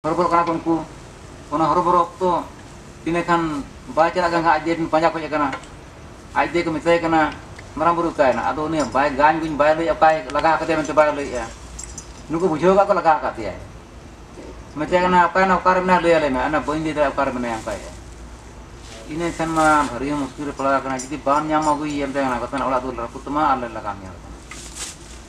ᱦᱚᱨᱚᱵᱚᱨᱚᱜ ᱠᱟᱱᱟ ᱠᱚ ᱩᱱᱠᱩ ᱚᱱᱟ ᱦᱚᱨᱚᱵᱚᱨᱚ ᱚᱠᱛᱚ ᱛᱤᱱᱟᱹᱜ ᱠᱷᱟᱱ ᱵᱟᱭ ᱪᱟᱞᱟᱜ ᱠᱟᱱ ᱠᱷᱟᱱ ᱟᱡ ᱫᱮ ᱯᱟᱸᱡᱟ ᱠᱷᱚᱡ ᱠᱟᱱᱟ ᱟᱡ ᱫᱮ ᱠᱚ ᱢᱮᱛᱟᱭ ᱠᱟᱱᱟ ᱢᱟᱨᱟᱝ ᱵᱩᱨᱩ ᱚᱠᱟᱭᱮᱱᱟ ᱟᱫᱚ ᱩᱱᱤ ᱵᱟᱭ ᱜᱟᱱ ᱜᱩᱱ ᱵᱟᱭ ᱞᱟᱹᱭᱮᱫᱼᱟ ᱚᱠᱟᱭ ᱞᱟᱜᱟ ᱟᱠᱟᱫᱮᱭᱟ ᱢᱮᱱᱛᱮ ᱵᱟᱭ ᱞᱟᱹᱭᱮᱫᱼᱟ ᱱᱩᱠᱩ ᱵᱩᱡᱷᱟᱹᱣ ᱠᱟᱜ ᱠᱚ ᱞᱟᱜᱟ ᱟᱠᱟᱫ ᱫᱮᱭᱟᱭ ᱢᱮᱛᱟᱭ ᱠᱟᱱᱟ ᱚᱠᱟᱭᱮᱱᱟ ᱚᱠᱟᱨᱮ ᱢᱮᱱᱟᱭᱟ ᱞᱟᱹᱭ ᱟᱞᱮ ᱢᱮ ᱚᱱᱟ ᱵᱟᱹᱧ ᱞᱟᱹᱭ ᱫᱟᱲᱮᱭᱟᱜᱼᱟ ᱚᱠᱟᱨᱮ ᱢᱮᱱᱟᱭᱟ ᱚᱱᱠᱟᱭᱮᱫᱼᱟ ᱤᱱᱟᱹ ᱠᱷᱟᱱ ᱢᱟ ᱵᱷᱟᱹᱨᱤ ᱦᱚᱸ ᱢᱩᱥᱠᱤᱞ ᱨᱮ ᱯᱟᱲᱟᱣ ᱟᱠᱟᱱᱟ ᱡᱩᱫᱤ ᱵᱟᱢ ᱧᱟᱢᱟ ᱟᱹᱜᱩᱭᱮᱭᱟ ᱢᱮᱛᱟᱭ ᱠᱟᱱᱟ ᱵᱟᱠᱷᱟᱱ ᱚᱲᱟᱜ ᱫᱩᱣᱟᱹᱨ ᱨᱟᱹᱯᱩᱫ ᱛᱟᱢᱟ ᱟᱨ ᱞᱮ ᱞᱟᱜᱟ ᱢᱮᱭᱟ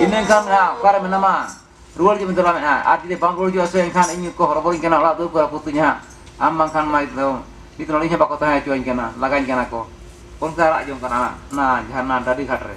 ᱤᱱᱟᱹ ᱠᱷᱟᱱ ᱦᱟᱸᱜ ᱚᱠᱟᱨᱮ ᱢᱮᱱᱟᱢᱟ ᱨᱩᱣᱟᱹᱲ ᱡᱚᱢ ᱪᱟᱞᱟᱜ ᱢᱮ ᱦᱟᱸᱜ ᱟᱨ ᱡᱩᱫᱤ ᱵᱟᱢ ᱨᱩᱣᱟᱹᱲ ᱦᱤᱡᱩᱜᱼᱟ ᱥᱮ ᱮᱱᱠᱷᱟᱱ ᱤᱧ ᱠᱚ ᱦᱚᱨᱚᱵᱚᱨᱚᱧ ᱠᱟᱱᱟ ᱚᱲᱟᱜ ᱫᱩᱣᱟᱹᱨ ᱠᱚ ᱨᱟᱹᱯᱩᱫ ᱛᱤᱧᱟ ᱦᱟᱸᱜ ᱟᱢ ᱵᱟᱝᱠᱷᱟᱱ ᱢᱟ ᱱᱤᱛ ᱫᱚ ᱱᱤᱛ ᱱᱚᱰᱮ ᱦᱚᱸ ᱵᱟᱠᱚ ᱛᱟᱦᱮᱸ ᱦᱚᱪᱚᱣᱟᱹᱧ ᱠᱟᱱᱟ ᱞᱟᱜᱟᱧ ᱠᱟᱱᱟ ᱠᱚ ᱚᱱᱠᱟ ᱨᱟᱜ ᱡᱚᱝ ᱠᱟᱱᱟ ᱚᱱᱟ ᱡᱷᱟᱨᱱᱟ ᱰᱟᱹᱰᱤ ᱜᱷᱟᱴ ᱨᱮ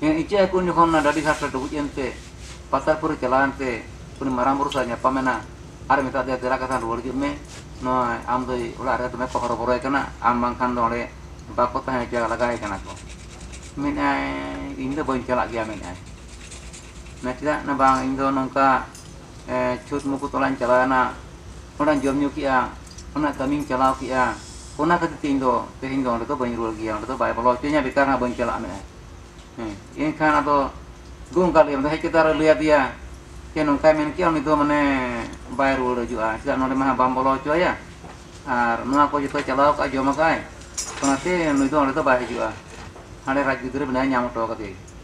ᱦᱮᱸ ᱤᱪᱟᱹᱜ ᱦᱟᱹᱠᱩ ᱩᱱ ᱡᱚᱠᱷᱚᱱ ᱚᱱᱟ ᱰᱟᱹᱰᱤ ᱜᱷᱟᱴ ᱨᱮ ᱰᱩᱵᱩᱡ ᱮᱱᱛᱮ ᱯᱟᱛᱟᱞᱯᱩᱨᱤ ᱪᱟᱞᱟᱣ ᱮᱱᱛᱮ ᱩᱱᱤ ᱢᱟᱨᱟᱝ ᱵᱩᱨᱩ ᱥᱟᱞᱟᱜ ᱧᱟᱯᱟᱢ ᱮᱱᱟ ᱟᱨ ᱢᱮᱛᱟᱜ ᱫᱮᱭᱟ ᱫᱮᱞᱟ ᱠᱟᱛᱷᱟ ᱨᱩᱣᱟᱹᱲ ᱦᱤᱡᱩᱜ ᱢᱮ ᱱᱚᱜᱼᱚᱭ ᱟᱢ ᱫᱚᱭ ᱚᱲᱟᱜ ᱨᱮ ᱫᱚᱢᱮ ᱠᱚ ᱦᱚᱨᱚ ᱵᱚᱨᱚᱭᱮ ᱠᱟᱱᱟ ᱟᱢ ᱵᱟᱝᱠᱷᱟᱱ ᱫᱚ ᱚᱸᱰᱮ ᱵᱟᱠᱚ ᱛᱟᱦᱮᱸ ᱦᱚᱪᱚᱣᱟᱭᱟ ᱞᱟᱜᱟᱭᱮ ᱠᱟᱱᱟ ᱠᱚ ᱢᱮᱱᱮᱫᱼᱟᱭ ᱤᱧ ᱫᱚ ᱵᱟᱹᱧ ᱪᱟᱞᱟᱜ ᱜᱮᱭᱟ ᱢᱮᱱᱮᱫᱼᱟᱭ ᱢᱮᱱᱮᱫᱼᱟᱭ ᱪᱮᱫᱟᱜ ᱵᱟᱝ ᱤᱧ ᱫᱚ ᱱᱚᱝᱠᱟ ᱪᱷᱩᱛ ᱢᱩᱠᱩᱛ ᱚᱲᱟᱜ ᱤᱧ ᱪᱟᱞᱟᱣᱮᱱᱟ ᱚᱸᱰᱮ ᱡᱚᱢ ᱧᱩ ᱠᱮᱫᱼᱟ ᱚᱱᱟ ᱠᱟᱹᱢᱤᱧ ᱪᱟᱞᱟᱣ ᱠᱮᱫᱼᱟ ᱚᱱᱟ ᱠᱷᱟᱹᱛᱤᱨ ᱛᱮ ᱤᱧ ᱫᱚ ᱛᱮᱦᱮᱧ ᱫᱚ ᱚᱸᱰᱮ ᱫᱚ ᱵᱟᱹᱧ ᱨᱩᱣᱟᱹᱲ ᱜᱮᱭᱟ ᱚᱸᱰᱮ ᱫᱚ ᱵᱟᱭ ᱵᱚᱞᱚ ᱦᱚᱪᱚᱧᱟ ᱵᱮᱠᱟᱨ ᱦᱟᱸᱜ ᱵᱟᱹᱧ ᱪᱟᱞᱟᱜᱼᱟ ᱢᱮᱱᱮᱫᱼᱟᱭ ᱦᱮᱸ ᱮᱱᱠᱷᱟᱱ ᱟᱫᱚ ᱫᱩ ᱚᱱᱠᱟ ᱞᱟᱹᱭ ᱟᱫᱮᱭᱟ ᱦᱮᱡ ᱠᱟᱛᱮᱫ ᱟᱨᱚ ᱞᱟᱹᱭ ᱟᱫᱮᱭᱟ ᱡᱮ ᱱᱚᱝᱠᱟᱭ ᱢᱮᱱ ᱠᱮᱫᱼᱟ ᱩᱱᱤ ᱫᱚ ᱢᱟᱱᱮ ᱵᱟᱭ ᱨᱩᱣᱟᱹᱲ ᱦᱤᱡᱩᱜᱼᱟ ᱪᱮᱫᱟᱜ ᱱᱚᱸᱰᱮ ᱢᱟ ᱵᱟᱢ ᱵᱚᱞᱚ ᱦᱚᱪᱚᱣᱟᱭᱟ ᱟᱨ ᱱᱚᱣᱟ ᱠᱚ ᱡᱚᱛᱚᱭ ᱪᱟᱞᱟᱣ ᱠᱟᱜᱼᱟ ᱡᱚᱢ ᱠᱟᱜᱼᱟᱭ ᱚᱱᱟᱛᱮ ᱱᱩᱭ ᱫᱚ ᱚᱸᱰᱮ ᱫᱚ ᱵᱟᱭ ᱦᱤᱡᱩᱜᱼᱟ ᱦᱟᱸᱰᱮ ᱨᱟᱡᱽ ᱜᱤᱫᱽᱨᱟᱹ ᱢᱮᱱᱟᱭᱟ ᱧᱟᱢ ᱦᱚᱴᱚ ᱠᱟᱫᱮᱭᱟᱭ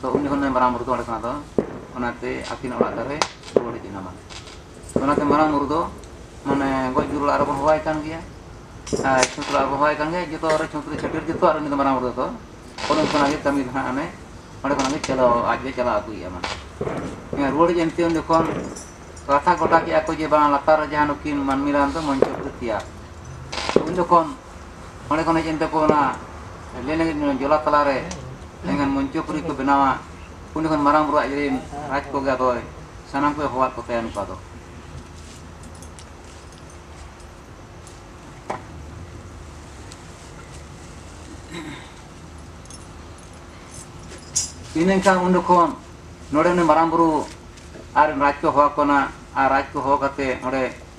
ᱛᱚ ᱩᱱ ᱡᱚᱠᱷᱚᱱ ᱢᱟᱨᱟᱝ ᱵᱩᱨᱩ ᱫᱚ ᱚᱸᱰᱮ ᱠᱷᱚᱱᱟᱜ ᱫᱚ ᱚᱱᱟᱛᱮ ᱟᱹᱠᱤᱱ ᱚᱲᱟᱜ ᱫᱟᱨᱮ ᱨᱩᱣᱟᱹᱲ ᱦᱮᱡ ᱮᱱᱟ ᱢᱟᱱᱮ ᱚᱱᱟᱛᱮ ᱢᱟᱨᱟᱝ ᱵᱩᱨᱩ ᱫᱚ ᱢᱟᱱᱮ ᱜᱚᱡ ᱜᱩᱨ ᱚᱲᱟᱜ ᱨᱮᱵᱚᱱ ᱦᱚᱦᱚᱣᱟᱭ ᱠᱟᱱ ᱜᱮᱭᱟ ᱟᱨ ᱪᱷᱩᱛ ᱚᱲᱟᱜ ᱨᱮᱵᱚᱱ ᱦᱚᱦᱚᱣᱟᱭ ᱠᱟᱱ ᱜᱮᱭᱟ ᱡᱚᱛᱚ ᱨᱮ ᱪᱷᱩᱛ ᱨᱮ ᱪᱷᱟᱹᱴᱭᱟᱹᱨ ᱡᱚᱛᱚᱣᱟᱜ ᱨᱮ ᱩᱱᱤ ᱫᱚ ᱢᱟᱨᱟᱝ ᱵᱩᱨᱩ ᱫᱚ ᱚᱱᱮ ᱚᱱᱠᱟᱱᱟᱜ ᱜᱮ ᱠᱟᱹᱢᱤ ᱫᱚ ᱦᱟᱸᱜ ᱚᱱᱮ ᱚᱸᱰᱮ ᱠᱷᱚᱱᱟᱜ ᱜᱮ ᱪᱟᱞᱟᱣ ᱟᱡ ᱫᱚᱭ ᱪᱟᱞᱟᱣ ᱟᱹᱜᱩᱭᱮᱫᱼᱟ ᱢᱟᱱᱮ ᱦᱮᱸ ᱨᱩᱣᱟᱹᱲ ᱦᱮᱡ ᱮᱱᱛᱮ ᱩᱱ ᱡᱚᱠᱷᱚᱱ ᱠᱟᱛᱷᱟ ᱜᱚᱴᱟ ᱠᱮᱫᱼᱟ ᱠᱚ ᱡᱮ ᱵᱟᱝ ᱞᱟᱛᱟᱨ ᱨᱮ ᱡᱟᱦᱟᱸ ᱱᱩᱠᱤᱱ ᱢᱟᱹᱱᱢᱤ ᱨᱟᱱ ᱫᱚ ᱢᱚᱧᱪᱚᱯᱩᱨᱤ ᱛᱮᱭᱟᱨ ᱩᱱ ᱡᱚᱠᱷᱚᱱ ᱚᱸᱰᱮ ᱠᱷᱚᱱ ᱦᱮᱡ ᱮᱱ ᱛᱟᱠᱚ ᱚᱱᱟ ᱞᱮᱱᱮ ᱡᱚᱞᱟ ᱛᱟᱞᱟᱨᱮ ᱮᱱᱠᱷᱟᱱ ᱢᱚᱧᱪᱚᱯᱩᱨᱤ ᱠᱚ ᱵᱮᱱᱟᱣᱟ ᱩᱱᱤ ᱠᱷᱚᱱ ᱢᱟᱨᱟᱝ ᱵᱩᱨᱩ ᱟᱡ ᱨᱮᱱ ᱨᱟᱡᱽ ᱠᱚᱜᱮ ᱟᱫᱚᱭ ᱥᱟᱱᱟᱢ ᱠᱚᱭ ᱦᱚᱦᱚᱣᱟᱫ ᱠᱚ ᱛᱟᱭᱟ ᱱᱚᱝᱠᱟ ᱫᱚ ᱤᱱᱟᱹᱠᱷᱟᱱ ᱩᱱ ᱡᱚᱠᱷᱚᱱ ᱱᱚᱰᱮ ᱩᱱᱤ ᱢᱟᱨᱟᱝ ᱵᱩᱨᱩ ᱟᱨ ᱨᱟᱡᱽ ᱠᱚ ᱦᱚᱦᱚᱣᱟᱠᱚ ᱠᱟᱱᱟ ᱟᱨ ᱨᱟᱡᱽ ᱠᱚ ᱦᱚᱦᱚ ᱠᱟᱛᱮ ᱚᱸᱰᱮ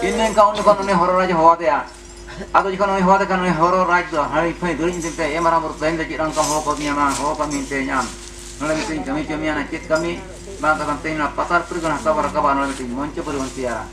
ᱤᱱᱟᱹ ᱠᱟᱣ ᱡᱚᱠᱷᱚᱱ ᱩᱱᱤ ᱦᱚᱨᱚ ᱨᱟᱡᱽ ᱦᱚᱦᱚ ᱟᱫᱮᱭᱟ ᱟᱫᱚ ᱡᱚᱠᱷᱚᱱ ᱩᱱᱤ ᱦᱚᱦᱚ ᱟᱫᱮ ᱠᱷᱟᱱ ᱩᱱᱤ ᱦᱚᱨᱚ ᱨᱟᱡᱽ ᱫᱚ ᱦᱟᱹᱲᱤ ᱯᱷᱟᱹᱭ ᱫᱩᱲᱤ ᱧᱤᱫᱤᱧ ᱛᱮ ᱮ ᱢᱟᱨᱟᱝ ᱵᱩᱨᱩ ᱛᱮᱦᱮᱧ ᱫᱚ ᱪᱮᱫ ᱚᱱᱠᱟᱢ ᱦᱚᱦᱚ ᱠᱟᱹᱫᱤᱧᱟ ᱢᱟ ᱦᱚᱦᱚ ᱠᱟᱹᱢᱤ ᱛᱮᱦᱮᱧ ᱟᱢ ᱱᱚᱰᱮ ᱢᱤᱫᱴᱤᱡ ᱠᱟᱹᱢᱤ ᱪᱚ ᱢᱮᱭᱟ ᱪᱮᱫ ᱠᱟᱹᱢᱤ ᱵᱟᱝ ᱠᱟᱛᱷᱟ ᱛᱮᱦᱮᱧ ᱱᱚᱣᱟ ᱯᱟᱛᱟᱞ ᱯᱩᱨᱤ ᱠᱷᱚᱱ ᱦᱟᱥᱟ ᱵᱚᱱ ᱨᱟᱠᱟᱵᱟ ᱱᱚᱰᱮ ᱢᱤᱫᱴᱤᱡ ᱢᱚᱧᱪᱚ ᱯᱩᱨᱤ ᱵᱚᱱ ᱛᱮᱭᱟᱨᱟ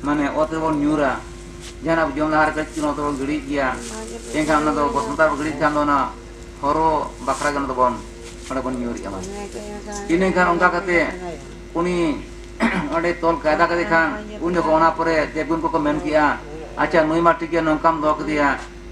ᱢᱟᱱᱮ ᱚᱛ ᱨᱮᱵᱚᱱ ᱧᱩᱨᱟ ᱡᱟᱦᱟᱱᱟᱜ ᱵᱚᱱ ᱡᱚᱢ ᱞᱟᱦᱟᱨᱮ ᱠᱟᱹᱡ ᱪᱩᱞᱩᱝ ᱚᱛ ᱨᱮᱵᱚᱱ ᱜᱤᱲᱤᱭᱮᱫ ᱜᱮᱭᱟ ᱮᱱᱠᱷᱟᱱ ᱚᱱᱟ ᱫᱚ ᱵᱚᱥᱚᱱᱛᱟ ᱨᱮᱵᱚᱱ ᱜᱤᱲᱤᱭᱮᱫ ᱠᱷᱟᱱ ᱫᱚ ᱚᱱᱟ ᱦᱚᱨᱚ ᱵᱟᱠᱷᱨᱟ ᱜᱮ ᱚᱱᱟ ᱫᱚᱵᱚᱱ ᱚᱸᱰᱮ ᱵᱚᱱ ᱧᱩᱨᱮᱜᱼᱟ ᱵᱚᱱ ᱤᱱᱟᱹ ᱠᱷᱟᱱ ᱚᱱᱠᱟ ᱠᱟᱛᱮ ᱩᱱᱤ ᱚᱸᱰᱮ ᱛᱚᱞ ᱠᱟᱭᱫᱟ ᱠᱮᱫᱮ ᱠᱷᱟᱱ ᱩᱱ ᱡᱚᱠᱷᱚᱱ ᱚᱱᱟ ᱯᱚᱨᱮ ᱫᱮᱵᱽᱜᱩᱱ ᱠᱚᱠᱚ ᱢᱮᱱ ᱠᱮᱜᱼᱟ ᱟᱪᱪᱷᱟ ᱱᱩᱭ ᱢᱟ ᱴᱷᱤᱠ ᱜᱮᱭᱟ ᱱᱚᱝᱠᱟᱢ ᱫᱚᱦᱚ ᱠᱮᱫᱮᱭᱟ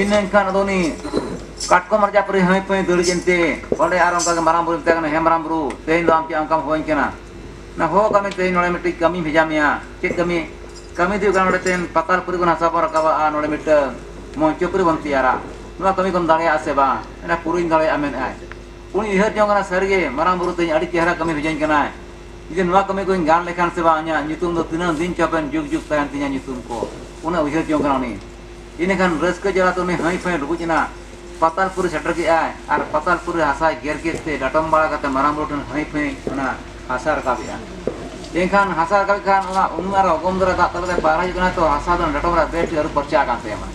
ᱤᱱᱟᱹ ᱮᱱᱠᱷᱟᱱ ᱟᱫᱚ ᱩᱱᱤ ᱠᱟᱴᱠᱚᱢ ᱨᱟᱡᱟ ᱯᱟᱹᱨᱤ ᱦᱟᱹᱭ ᱯᱟᱹᱭ ᱫᱟᱹᱲ ᱡᱮᱱᱛᱮ ᱚᱸᱰᱮ ᱟᱨ ᱚᱱᱠᱟ ᱜᱮ ᱢᱟᱨᱟᱝ ᱵᱩᱨᱩ ᱢᱮᱛᱟᱭ ᱠᱟᱱᱟ ᱦᱮᱸ ᱢᱟᱨᱟᱝ ᱵᱩᱨᱩ ᱛᱮᱦᱮᱧ ᱫᱚ ᱟᱢ ᱪᱮᱫ ᱚᱱᱠᱟᱢ ᱦᱚᱦᱚᱣᱟᱹᱧ ᱠᱟᱱᱟ ᱚᱱᱟ ᱦᱚᱦᱚ ᱠᱟᱜ ᱢᱮ ᱛᱮᱦᱮᱧ ᱱᱚᱰᱮ ᱢᱤᱫᱴᱤᱡ ᱠᱟᱹᱢᱤᱧ ᱵᱷᱮᱡᱟ ᱢᱮᱭᱟ ᱪᱮᱫ ᱠᱟᱹᱢᱤ ᱠᱟᱹᱢᱤ ᱫᱚ ᱦᱩᱭᱩᱜ ᱠᱟᱱᱟ ᱱᱚᱰᱮ ᱛᱮᱦᱮᱧ ᱯᱟᱛᱟᱞ ᱯᱩᱨᱤ ᱠᱷᱚᱱ ᱦᱟᱥᱟ ᱵᱚᱱ ᱨᱟᱠᱟᱵᱟ ᱟᱨ ᱱᱚᱰᱮ ᱢᱤᱫᱴᱟᱹᱝ ᱢᱚᱧᱪᱚ ᱯᱩᱨᱤ ᱵᱚᱱ ᱛᱮᱭᱟᱨᱟ ᱱᱚᱣᱟ ᱠᱟᱹᱢᱤ ᱠᱚᱢ ᱫᱟᱲᱮᱭᱟᱜᱼᱟ ᱥᱮ ᱵᱟᱝ ᱢᱮᱱᱟ ᱯᱩᱨᱟᱹᱧ ᱫᱟᱲᱮᱭᱟᱜᱼᱟ ᱢᱮᱱᱮᱫᱼᱟᱭ ᱩᱱᱤ ᱩᱭᱦᱟᱹᱨ ᱡᱚᱝ ᱠᱟᱱᱟ ᱥᱟᱹᱨᱤ ᱜᱮ ᱢᱟᱨᱟᱝ ᱵᱩᱨᱩ ᱛᱤᱧ ᱟᱹᱰᱤ ᱪᱮᱦᱨᱟ ᱠᱟᱹᱢᱤ ᱵᱷᱮᱡᱟᱹᱧ ᱠᱟᱱᱟᱭ ᱡᱩᱫᱤ ᱱᱚᱣᱟ ᱠᱟᱹᱢᱤ ᱠᱚᱧ ᱜᱟᱱ ᱞᱮᱠᱷᱟᱱ ᱥᱮ ᱵᱟᱝ ᱤᱧᱟᱹᱜ ᱧᱩᱛᱩᱢ ᱫᱚ ᱛᱤᱱᱟᱹᱝ ᱫᱤᱱ ᱪᱚ ᱦᱟᱯᱮᱱ ᱡᱩᱜᱽ ᱡᱩᱜᱽ ᱛᱟᱦᱮᱱ ᱛᱤᱧᱟᱹ ᱧᱩᱛᱩᱢ ᱠᱚ ᱩᱱᱟᱹᱜ ᱩᱭᱦᱟᱹᱨ ᱡᱚᱝ ᱠᱟᱱᱟ ᱩᱱᱤ ᱤᱱᱟᱹ ᱠᱷᱟᱱ ᱨᱟᱹᱥᱠᱟᱹ ᱡᱟᱞᱟ ᱛᱮ ᱩᱱᱤ ᱦᱟᱺᱭ ᱯᱷᱟᱺᱭ ᱰᱩᱵᱩᱡ ᱮᱱᱟ ᱯᱟᱛᱟᱞ ᱯᱩᱨᱤ ᱥᱮᱴᱮᱨ ᱠᱮᱫ ᱟᱭ ᱟᱨ ᱯᱟᱛᱟᱞ ᱯᱩᱨᱤ ᱨᱮ ᱦᱟᱥᱟᱭ ᱜᱮᱨ ᱠᱮᱫ ᱛᱮ ᱰᱟᱴᱚᱢ ᱵᱟᱲᱟ ᱠᱟᱛᱮ ᱢᱟᱨᱟᱝ ᱵᱩᱨᱩ ᱴᱷᱮᱱ ᱦᱟᱺᱭ ᱯᱷᱟᱺᱭ ᱚᱱᱟ ᱦᱟᱥᱟᱭ ᱨᱟᱠᱟᱵ ᱮᱫᱼᱟ ᱮᱱᱠᱷᱟᱱ ᱦᱟᱥᱟᱭ ᱨᱟᱠᱟᱵ ᱮᱫ ᱠᱷᱟᱱ ᱚᱱᱟ ᱩᱱᱩᱢ ᱟᱨ ᱚᱜᱚᱢ ᱫᱟᱨᱟ ᱫᱟᱜ ᱛᱟᱞᱟ ᱛᱮ ᱯᱟᱭᱨᱟ ᱦᱤᱡᱩᱜ ᱠᱟᱱᱟᱭ ᱛᱚ ᱦᱟᱥᱟ ᱫᱚ ᱰᱟᱴᱚᱢ ᱨᱮ ᱵᱮᱥ ᱴᱷᱤᱠ ᱟᱹᱨᱩᱵ ᱯᱷᱟᱨᱪᱟ ᱟᱠᱟᱱ ᱛᱟᱭᱟ ᱢᱟᱱᱮ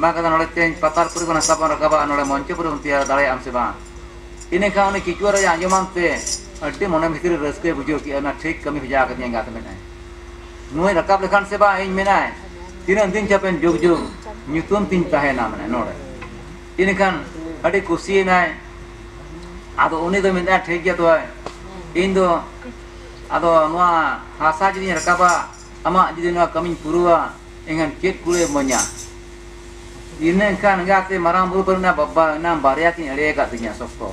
ᱵᱟᱝ ᱠᱟᱛᱮ ᱱᱚᱰᱮ ᱛᱮᱧ ᱯᱟᱛᱟᱞ ᱯᱩᱨᱤ ᱠᱷᱚᱱ ᱦᱟᱥᱟ ᱵᱚᱱ ᱨᱟᱠᱟᱵᱟ ᱱᱚᱰᱮ ᱢᱚᱧᱪᱚ ᱯᱩᱨᱤ ᱵᱚᱱ ᱛᱮᱭᱟᱨᱟ ᱫᱟᱲᱮᱭᱟᱜ ᱟᱢ ᱥᱮ ᱵᱟᱝ ᱤᱱᱟᱹ ᱠᱷᱟᱱ ᱩᱱᱤ ᱠᱤᱪᱩᱣᱟᱹ ᱨᱟᱡᱟ ᱟᱸᱡᱚᱢᱟᱱ ᱛᱮ ᱟᱹᱰᱤ ᱢᱚᱱᱮ ᱵᱷᱤᱛᱤᱨ ᱨᱮ ᱨᱟᱹᱥᱠᱟᱹᱭ ᱵᱩᱡᱷᱟᱹᱣ ᱠᱮᱜᱼᱟ ᱢᱮᱱᱟ ᱴᱷᱤᱠ ᱠᱟᱹᱢᱤ ᱵᱷᱮᱡᱟ ᱟᱠᱟᱫᱤᱧᱟ ᱮᱸᱜᱟᱛ ᱢᱮᱱᱟᱭ ᱱᱩᱭ ᱨᱟᱠᱟᱵ ᱞᱮᱠᱷᱟᱱ ᱥᱮ ᱵᱟᱝ ᱤᱧ ᱢᱮᱱᱟᱭ ᱛᱤᱱᱟᱹᱜ ᱫᱤᱱ ᱪᱚ ᱦᱟᱯᱮᱱ ᱡᱩᱜᱽ ᱡᱩᱜᱽ ᱧᱩᱛᱩᱢ ᱛᱤᱧ ᱛᱟᱦᱮᱱᱟ ᱢᱟᱱᱮ ᱱᱚᱰᱮ ᱤᱱᱟᱹ ᱠᱷᱟᱱ ᱟᱹᱰᱤ ᱠᱩᱥᱤᱭᱮᱱᱟᱭ ᱟᱫᱚ ᱩᱱᱤ ᱫᱚ ᱢᱮᱱᱫᱟᱭ ᱴᱷᱤᱠ ᱜᱮᱭᱟ ᱛᱚᱵᱮ ᱤᱧ ᱫᱚ ᱟᱫᱚ ᱱᱚᱣᱟ ᱦᱟᱥᱟ ᱡᱩᱫᱤᱧ ᱨᱟᱠᱟᱵᱟ ᱟᱢᱟᱜ ᱡᱩᱫᱤ ᱱᱚᱣᱟ ᱠᱟᱹᱢᱤᱧ ᱯᱩᱨᱟᱹᱣᱟ ᱮᱱᱠᱷᱟᱱ ᱪᱮᱫ ᱠᱩᱲᱟᱹᱭ ᱤᱢᱟᱹᱧᱟ ᱤᱱᱟᱹ ᱮᱱᱠᱷᱟᱱ ᱮᱸᱜᱟᱛᱮ ᱢᱟᱨᱟᱝ ᱵᱩᱨᱩ ᱠᱚᱨᱮᱱᱟᱜ ᱵᱟᱵᱟ ᱚᱱᱟ ᱵᱟᱨᱭᱟ ᱠᱤᱱ ᱮᱲᱮ ᱟᱠᱟᱫᱤᱧᱟ ᱥᱚᱠᱛᱚ